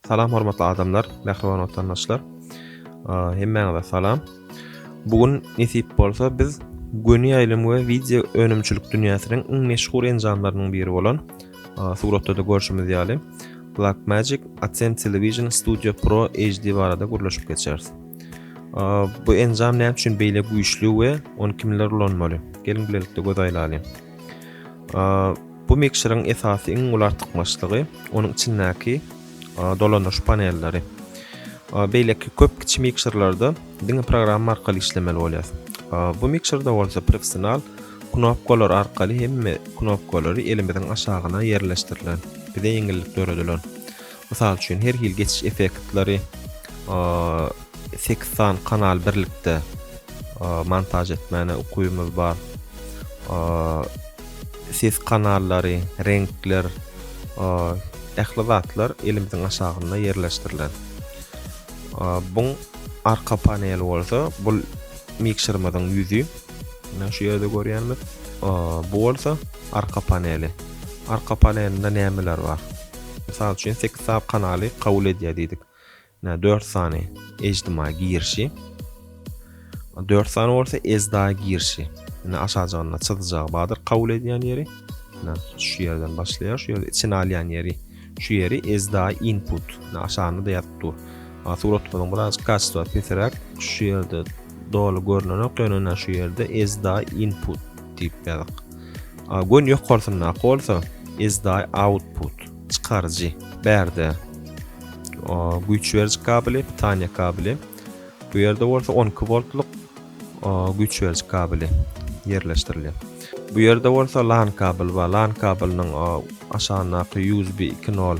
Salam hormatly adamlar, mähriban watandaşlar. Hemmäňize salam. Bu gün nesip bolsa biz göni ýaýlym we wideo önümçilik dünýäsiniň iň meşhur enjamlarynyň biri bolan suratda-da görşümiz ýaly Blackmagic Accent Television Studio Pro HD barada gürleşip geçeris. Bu enjam näme üçin beýle güýçli we ony kimler ulanmaly? Geliň bilelikde göz aýlalyň. Bu mikseryň esasy iň uly artykmaçlygy onuň içindäki dolandyryş panelleri. Beýleki köp kiçi mikserlerde diňe programma arkaly işlemeli bolýar. Bu mikserde bolsa professional knopkalar arkaly hemme knopkalary elimiziň aşagyna ýerleşdirilen, bize ýeňillik döredilen. Mysal üçin, her hili geçiş effektleri sekiz sany kanal birlikde montaž etmäne ukybymyz bar. Ses kanallary, reňkler, ähli zatlar elimiziň aşagynda ýerleşdirilen. Buň arka paneli bolsa, bu mikserimiziň ýüzi. Mine şu ýerde görýänimiz, bu bolsa arka paneli. Arka panelinde nämeler bar? Mysal üçin sekiz sap kanaly kabul edýär diýdik. Nä dört sany eždima girişi. Dört sany bolsa ezda girişi. Nä aşajygynda çyzyjagy bardyr kabul edýän ýeri. Nä şu ýerden başlaýar, şu ýerde içine alýan ýeri. Şu ýeri ezda input. Nä aşagynda da ýazyp dur. Suratymyzyň biraz kaçta peseräk şu ýerde doly görnenok, ýöne şu ýerde ezda input diýip ýazyk. Gün ýokarsyndaky bolsa ezdaý output, çykaryjy, bärde güýç beriji kabeli, pitaniýa kabeli. Bu ýerde bolsa 12 voltlyk güýç beriji kabeli ýerleşdirilýär. Bu ýerde bolsa LAN kabel we LAN kabeliniň aşagyndaky USB 2.0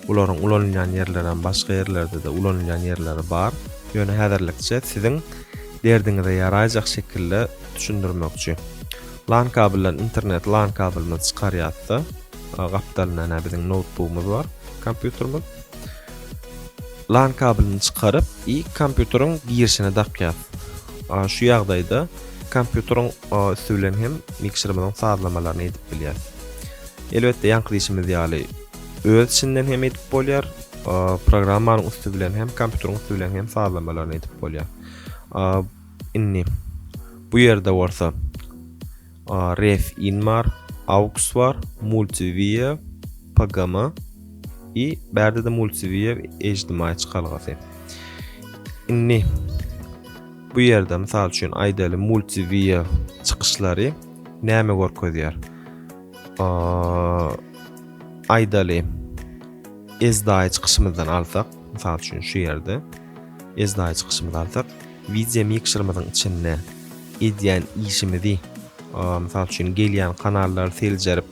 bularyň ulanylýan ýerleri hem başga ýerlerde-de ulanylýan ýerleri bar. Ýöne häzirlikçe siziň derdiňize ýaraýjak şekilde düşündirmekçi. LAN kabelden internet LAN kabelimizi çykarýarsa, gapdalynda näme biziň noutbugumyz bar, kompýuterimiz. LAN kabelini çykaryp, i kompýuteriň girişine dakýar. Şu ýagdaýda kompýuteriň üsti bilen hem mikserimiziň sazlamalaryny edip bilýär. Elbetde ýaňky diýişimiz ýaly öz içinden hem edip bolýar, programmanyň üsti bilen hem kompýuteriň üsti bilen hem sazlamalaryny edip bolýar. Indi bu ýerde bolsa ref in bar, aux bar, multiwia, pgm i bärde-de multiwia ejdimaý çykalgasy. Indi bu ýerde mysal üçin aýdaly multiwia çykyşlary näme görkezýär? Aýdaly ezdaý çykyşymyzdan alsak, mysal üçin şu ýerde Esnaýy çykyşymyzy alsak, wideo mikserimiziň içinde edýän işimizi, mysal üçin gelýän kanallary seljerip,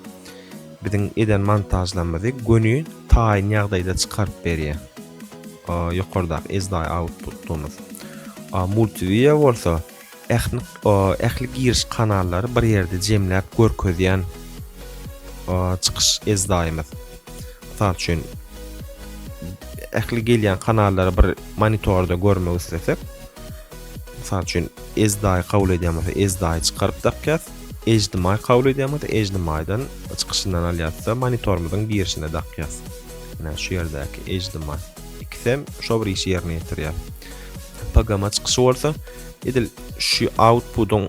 biziň eden montažlarymyzy göni taýyn ýagdaýda çykaryp berýär. Ýokardaky esnaýy outputymyz. Multividia bolsa Ähli ähli giriş kanallary bir ýerde jemläp görkezýän çykyş ezdaýymyz. Mysal üçin ähli gelýän kanallary bir monitorda görmek islesek, mysal üçin ezdaýy kabul edýän bolsa ezdaýy çykaryp dakýas. HDMI kabul edýän bolsa HDMI-dan çykyşyndan alýas-da monitorymyzyň girişine dakýas. Ine şu ýerdäki HDMI. Ikisem şo bir işi ýerine ýetirýär. Pagama çykyşy bolsa edil şu outputyň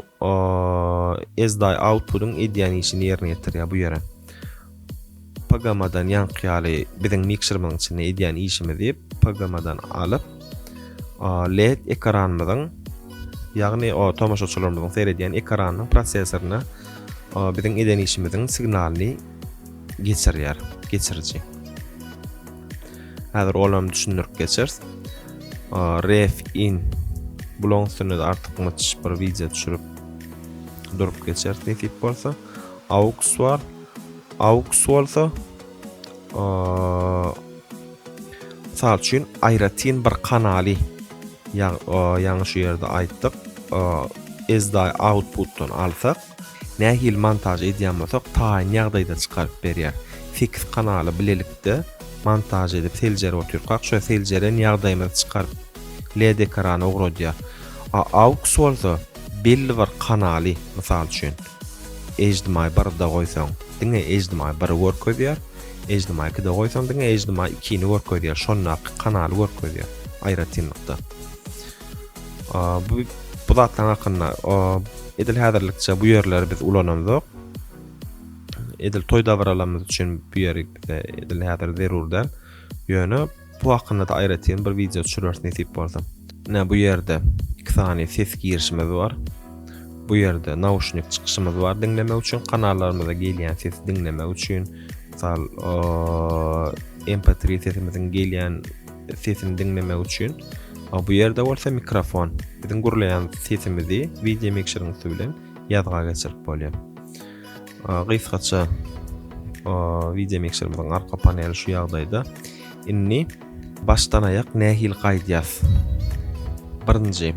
ezdaý outputyň edýän işini ýerine ýetirýär bu ýere. Pagamadan ýaňky ýaly biziň mikserimiň içinde edýän işimizi pagamadan alyp LED ekranymyzyň ýagny o tomaşaçylarymyzyň seredýän ekranynyň prosesoryna biziň eden işimiziň signalyny geçirýär geçiriji. Häzir olam düşündirip geçeris. Ref in bulaň üstünde de artykmaç bir wideo düşürip durup geçeris nesip bolsa. Aux bar. Aux bolsa mysal üçin aýratyn bir kanaly ýaňy şu ýerde aýtdyk. Ezday outputdan alsak Nähili montaž edýän bolsak taýyn ýagdaýda çykaryp berýär. Sekiz kanaly bilelikde montaž edip seljerip otyrkak şo seljeren ýagdaýymyzy çykaryp led ekrana ugradýar. A aux bolsa belli bir kanaly mysal üçin HDMI birde goýsaň diňe HDMI biri görkezýär, HDMI ikide goýsaň diňe HDMI ikini görkezýär şondaky kanaly görkezýär aýratynlykda. Bu bu zatlaryň hakynda edil häzirlikçe bu ýerleri biz ulanandyk. Edil toý dabaralarymyz üçin bu ýeri bize edil häzir zerur däl. Ýöne bu hakynda da aýratyn bir wideo düşürers nesip bolsa. Ine bu ýerde iki sany ses girişimiz bar. Bu ýerde nauşnik çykyşymyz bar diňlemek üçin kanallarymyza gelýän sesi diňlemek üçin. Mysal MP3 sesimiziň gelýän sesini diňlemek üçin. Bu ýerde bolsa mikrofon. Biziň gürleýän sesimizi wideo mikşeriň üsti bilen ýazga geçirip bolýar. Gysgaça wideo mikşerimiziň arka paneli şu ýagdaýda. Indi başdan aýak nähili gaýdýas? Birinji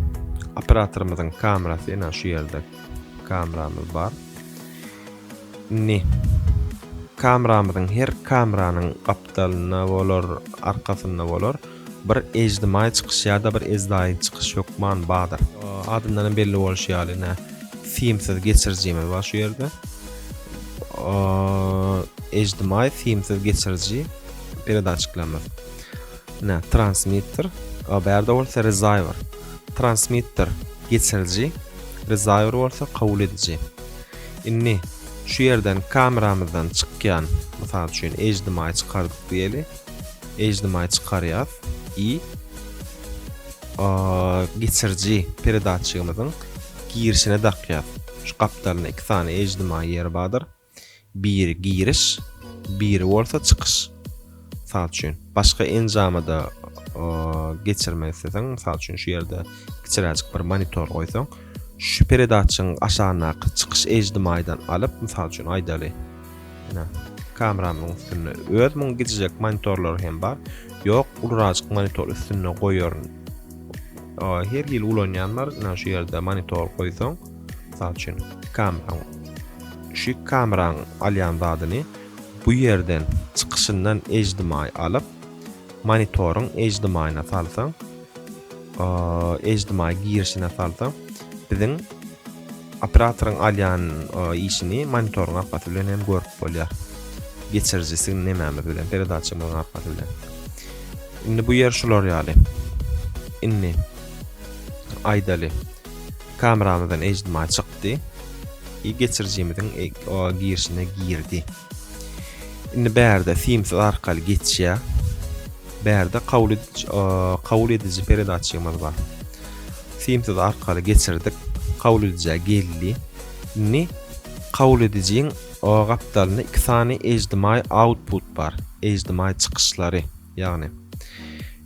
operatorymyzyň kamerasy ýene şu ýerde kameramyz bar. Indi kamramyzyň her kamranyň gapdalynda bolar, arkasynda bolar bir ejdimaý çykyş ýa-da bir ezdaýyn çykyş hökman badyr. Adyndanam belli bolşy ýaly ine simsiz geçirijimiz bar şu ýerde. Ejdimaý simsiz geçiriji peredaçiklerimiz. Ine transmitter, bärde bolsa rezaiwer. Transmitter geçiriji, rezaiwer bolsa kabul ediji. Indi, şu ýerden kameramyzdan çykýan, mysal üçin, HDMI çykardyk diýeli. HDMI çykarýas i geçiriji peredatçigimiziň girişine dakýas. Şu gapdalynda iki sany HDMI ýeri bardyr. Biri giriş, biri bolsa çykyş. Mysal üçin, başga enjama-da geçirmek isleseň, mysal üçin şu ýerde kiçiräjik bir monitor goýsaň, şu peredatçyň aşagyndaky çykyş ejdimaýdan alyp, mysal üçin aýdaly, ýene kameramyň üstünde öz muň gijijek monitorlar hem bar. Ýok, ulurajyk monitor üstünde goýaryn. Her hili ulanýanlar, ýene şu ýerde monitor goýsaň, mysal üçin, kameram, şu kameran alýan zadyny Bu ýerden çykyşyndan ejdimaý alyp, monitoryň ejdimaýyna salsaň, ejdimaý girişine salsaň, biziň operatoryň alýan işini monitoryň arkaty bilen hem görüp bolýar. Geçiriji siziň nemämiz bilen, peredaçamyzyň arkaty bilen. Indi bu ýer şular ýaly. Indi aýdaly. Kameramyzdan HDMI çykdy. I geçirijimiziň girişine girdi. Indi bärde simsiz arkaly geçýär. Bärde kabul ediji kabul ediji peredaçymyz bar. Simsiz arkaly geçirdik. Kabul edijä geldi. Indi kabul edijiň gapdalynda iki sany HDMI output bar. HDMI çykyşlary. Ýagny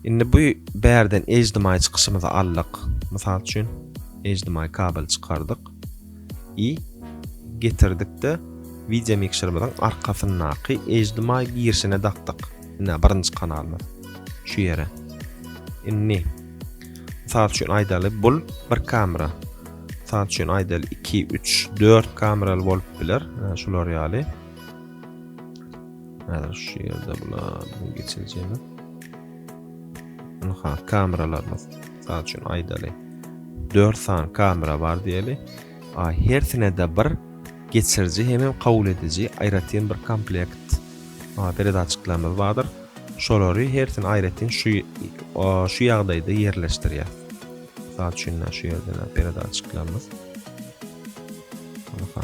indi bu bärden ejdimaý çykyşymyzy aldyk. Mysal üçin ejdimaý kabel çykardyk. I getirdikde wideo mikserimiziň arkasyndaky ejdimaý girişine dakdyk. Indi birinji kanalymyz şu ýere. Indi Mysal üçin aýdaly bul bir kamera. Mysal üçin aýdaly 2, 3, 4 kameraly bolup biler. Şular ýaly. Häzir şu ýerde bula geçirjemiz. Ynha kameralarymyz. Mysal üçin aýdaly 4 sany kamera bar diýeli. A hersine-de bir geçiriji hem kabul ediji aýratyn bir komplekt peredatçiklerimiz bardyr. Şolary hersini aýratyn şu şu ýagdaýda ýerleşdirýär. Mysal üçin şu ýerde peredatçiklerimiz. Ynha.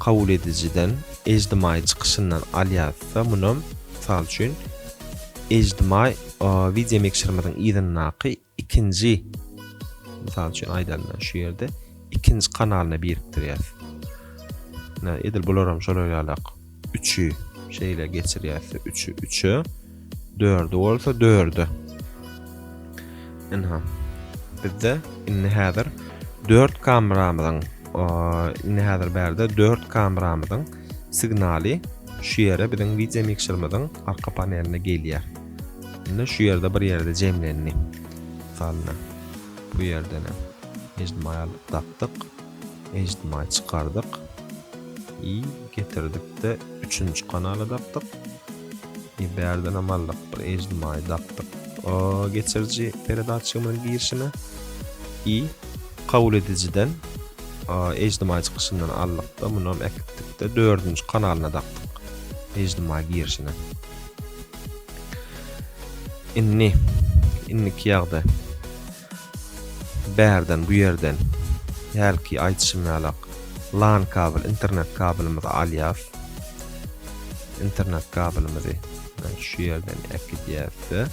kabul edijiden, ejdimaý çykyşyndan alýarysda, munam, mysal üçin, ejdimaý wideomikserimiziň yzyndaky ikinji, mysal üçin aýdalyň, men şu ýerde ikinji kanalyna birikdirýäris. Edil bularam şolar ýalak. Üçi şeýle geçirýäs. Üçi üçe. Dördi bolsa dörde. Ynha. Bizde indi häzir 4 kameramyzyň indi häzir bärde 4 kameramyzyň signaly şu ýere biziň wideo mikserimiziň arka paneline gelýär. Indi şu ýerde bir ýerde jemlendi. Salna. Bu ýerden hem. Mecnun aýalyk tapdyk. HDMI çykardyk i getirdikde üçünji kanaly dakdyk i bärdenem aldyk bir HDMI dakdyk o geçiriji peredatçygymyzyň girişine i kabul edijiden HDMI çykyşyndan aldyk da munam äkitdikde dördünji kanalyna dakdyk HDMI girişine indi indiki ýagda Bärden, bu ýerden, hälki aýdyşym ýalak, LAN kabel, internet kabelimizi alýas. Internet kabelimizi şu ýerden äkidýäs we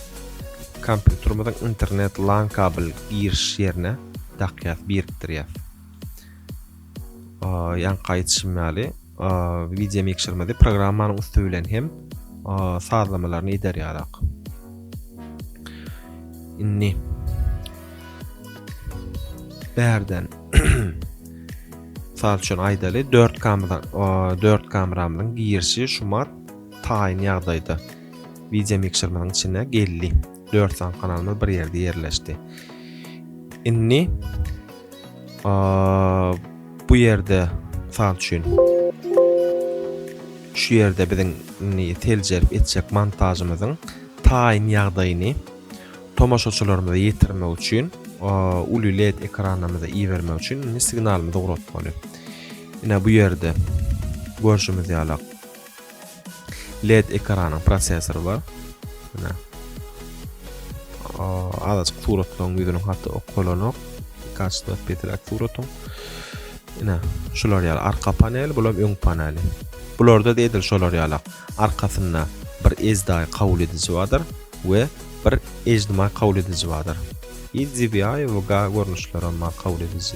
kompýuterimiziň internet LAN kabel giriş ýerine dakýas, birikdirýäs. Ýaňky aýdyşym ýaly, Wideomikserimizi programmanyň üsti bilen hem sazlamalaryny eder ýarak. Indi bärden Sal üçin aýdaly 4 kamera 4 kameramyň girişi şumat taýyn ýagdaýda. Wideo mikserimiň içine geldi. 4 san kanalymyz bir ýerde ýerleşdi. Indi Bu ýerde mysal üçin şu ýerde biziň indi seljerip etjek montažymyzyň taýyn ýagdaýyny tomaşaçylarymyza ýetirmek üçin uly led ekranymyza ibermek üçin indi signalymyzy ugratmaly. Ine bu ýerde görşümiz ýalak led ekranyň prosesory bar mine azajyk suratlaryň ýüzüniň hatda okalanok kaçda petrak suratyň ine şular ýaly arka panel bulam öň paneli bularda da edil şolar ýalak arkasynda bir ezdaý kabul ediji bardyr we bir ejdimaý kabul ediji bardyr i dvi we ga görnüşleri hem bar kabul ediji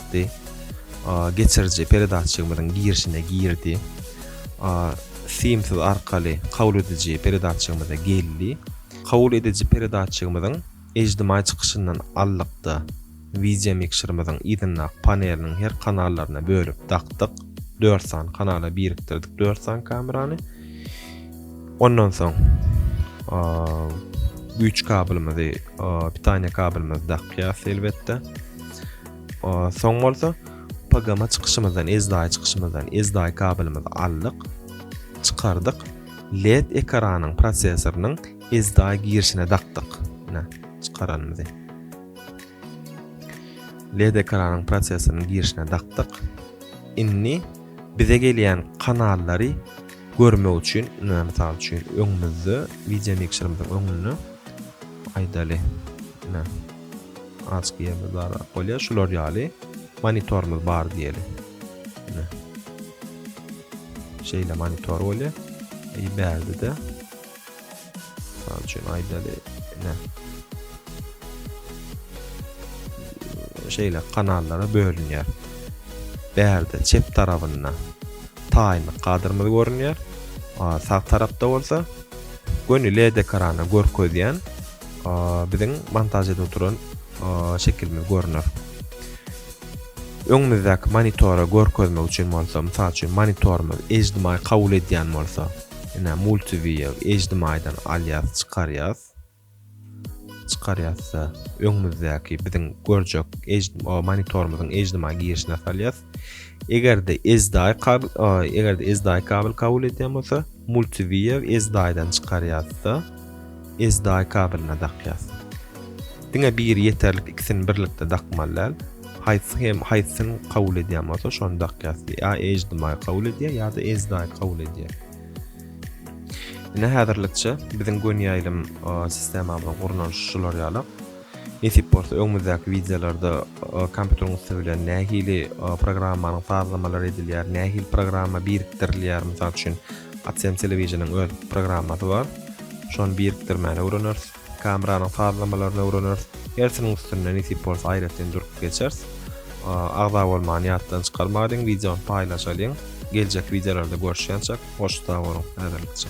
çykdy. Geçiriji peredatçygymyzyň girişine girdi. Simsiz arkaly kabul ediji peredatçygymyza geldi. Kabul ediji peredatçygymyzyň ijtimaý çykyşyndan aldykda wideo mikserimiziň yzyndaky paneliniň her kanallaryna bölüp dakdyk. Dört sany kanala birikdirdik dört sany kamerany. Ondan soň güýç kabelimizi, pitaniýa kabelimizi dakýas elbetde. Soň bolsa PGM çykyşymyzdan, SDI çykyşymyzdan SDI kabelimizi aldyk, çykardyk. LED ekranyň prosesorynyň SDI girişine dakdyk. Ine, çykaranymyzy. LED ekranyň prosesorynyň girişine dakdyk. Indi bize gelýän kanallary görmek üçin, ine, mysal üçin, öňümizde video mikserimiziň öňünde aýdaly. Ine. Açyk ýerde darap bolýar. Şular ýaly monitorymyz bar diýeli. Ine. Şeýle monitor bolýar. E, bärde de Misal üçin aýdaly, ine. Şeýle kanallara bölünýär. Bärde çep tarapynda taýmy kadrymyz görünýär. Sag tarapda bolsa göni LED ekrana görkezýän biziň montaž edip oturan şekilimiz görüner. Öňümizdäki monitora görkezmek üçin bolsa, mysal üçin monitorymyz HDMI kabul edýän bolsa, ine multiview HDMI-dan alýas, çykarýas. Çykarýasda öňümizdäki biziň görjek monitorymyzyň HDMI girişine salýas. Eger-de SDI kabel, eger-de SDI kabel kabul edýän bolsa, multiview SDI-dan çykarýarys-da, SDI kabeline dakýarys. Diňe biri ýeterlik, ikisini birlikde dakmaly däl. Haýsy hem haýsyny kabul edýän bolsa, şony dakýarys. Ýa HDMI kabul edýär, ýa-da SDI kabul edýär. Ine häzirlikçe biziň gönýaýlym sistemamyzyň gurnalyşy şular ýaly. Nesip bolsa öňümizdäki wideolarda kompýuteriň üsti bilen nähili programmanyň sazlamalary edilýär, nähili programma birikdirilýär, mysal üçin Adsem Television-iň öz programmasy bar. Şony birikdirmäni öwreneris. Kameranyň sazlamalaryny öwreneris. Hersiniň üstünde nesip bolsa aýratyn durup geçeris. Agza bolmany ýatdan çykarmadyň, wideony paýlaşalyň. Geljek wideolarda görüşýänçäk, hoş sag boluň, häzirlikçe.